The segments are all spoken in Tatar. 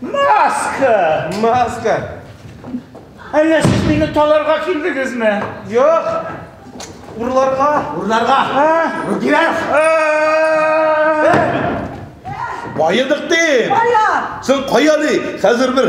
Маска! Маска! Әллә сез мине таларга килдегезме? Юк! Урларга! Урларга! Рудилар! Байыдык дим! Кая? Син кая ли? Хәзер бер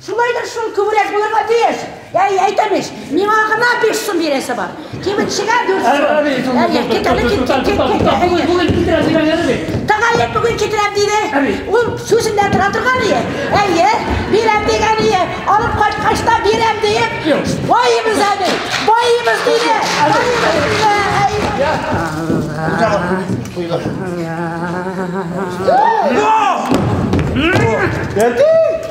Шулайдыр шул, күбрәк булырга тиеш. Әй, әйтәм ич, миңа гына биш сум бирәсе бар. Кибетчегә дүрт сум. Әй, әй, кит әле, кит, кит, кит, кит, әй, әй. Бүген китерәм дигән әле бит. Тәгаен бүген китерәм диде. Әби. Ул сүзендә тора торган ие. Әйе, бирәм дигән ие. Алып кайткач та бирәм диеп, Юк. байыбыз әле, байыбыз диде, байыбыз диде. Әй. Бердәм.